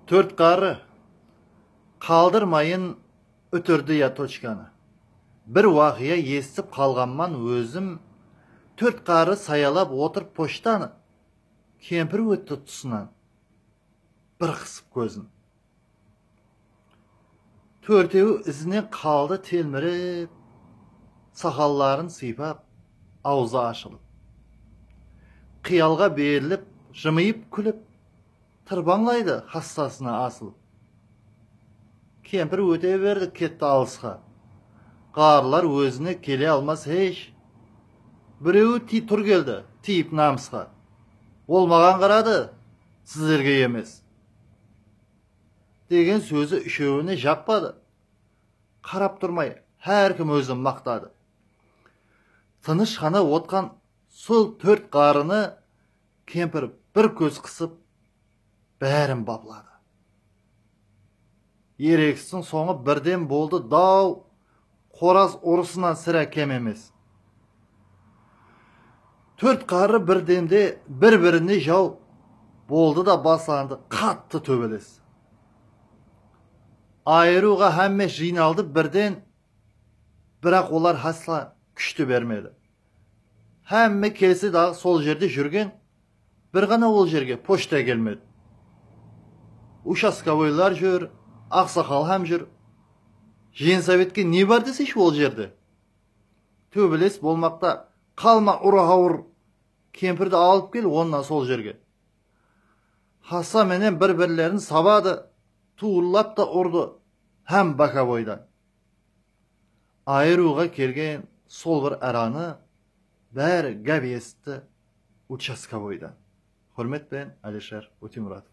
Tórt qarı, qaldırmayın útirdi ya tochkanı. Bir waqıya esitip qalǵanman ózim, tórt qarı sayalap otırıp pochtanı. Kempir ótti tusınan, bir qısıp kózin. Tórtewi izinen qaldı telmirip, saqalların sıypap, awzı ashılıp. Qıyalǵa berilip, jımıyıp kúlip, tırpańlaydı xassasına asılıp. Kempir óte berdi ketti alısqa. Ǵarrılar ózine kele almas hesh. Birewi tiy tur keldi, tiyip namısqa. Ol maǵan qaradı, sizlerge emes. Degen sózi úshewine jappadı. Qarap turmay, hár kim ózin maqtadı. Tınısh ǵana otqan sol tórt ǵarrını kempir bir kóz qısıp, bárin bapıladı. Eregistiń sońı birden boldı daw! Qoraz urısınan sirá kem emes. Tórt qarı bir demde bir-birine jaw boldı da baslandı qattı tóbeles. Ayırıwǵa hámme jıynaldı birden, biraq olar hásla kúshti bermedi. Hámme kelse daǵı sol jerde júrgen Bir ǵana ol jerge pochta kelmedi. Ushastkovoylar júr, aqsaqal hám júr. Jensovete ne bar deseyshi ol jerde? Tóbeles bolmaqta, qalma urı awır kempirdi alıp kel onnan sol jerge. Hassa menen bir birlerin sabadı, tuwıllap ta urdı hám bokovoydan. Ayırıwǵa kelgen sol bir aranı bári gáp esitti, Uchastkovoydan. Húrmet penen, Alisher Ótemuratov.